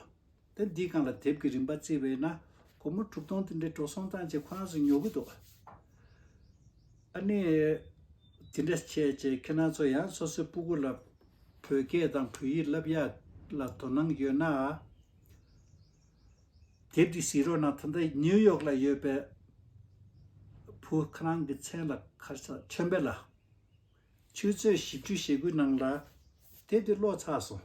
ད་འདིས་གང་ལ་དེབ་ཀྱི་རིན་པ་བརྩི་བས་ན། སྒོར་མོ་དྲུག་སྟོང་དེ་འདྲའི་འགྲོ་སོང་བཏང་བྱས་ཁོ་རང་ཚོ་ཉོ་གི་འདུག། ཨ་ནེ། དེ་འདྲ་བྱས་རྗེས་ཁྱེད་རང་ཚོ་ཡང་སོ་སོའི་སྤུ་གུ་ལ། བོད་སྐད་དང་བོད་ཡིག་བསླབ་ཡག་ལ་དོ་སྣང་ཡོད་ན། དེབ་འདི་གཟིགས་རོགས་གནང་ད་ལྟ་ནིའུ་ཡོག་ལ་ཡོད་པའི། བུ་ཁོ་རང་གི་མཚན་ལ་ཁར་ས་ཆོན་པེ་ལ། ཆུ་ཚོད་བཞི་བཅུ་ཞེ་དགུའི་ནང་ལ། དེབ་འདི་ཀློག་ཚར་སོང།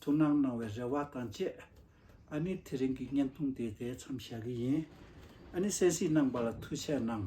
ཐུགས་སྣང་གནང་བའི་རེ་བ་དང་བཅས། ཨ་ནི་དེ་རིང་གི་བརྙན་ཐུང་དེ་དེ་མཚམས་བཞག་གི་ཡིན། ཨ་ནི་གསན་གཟིགས་གནང་བ་ལ་ཐུགས་ཆེ་གནང།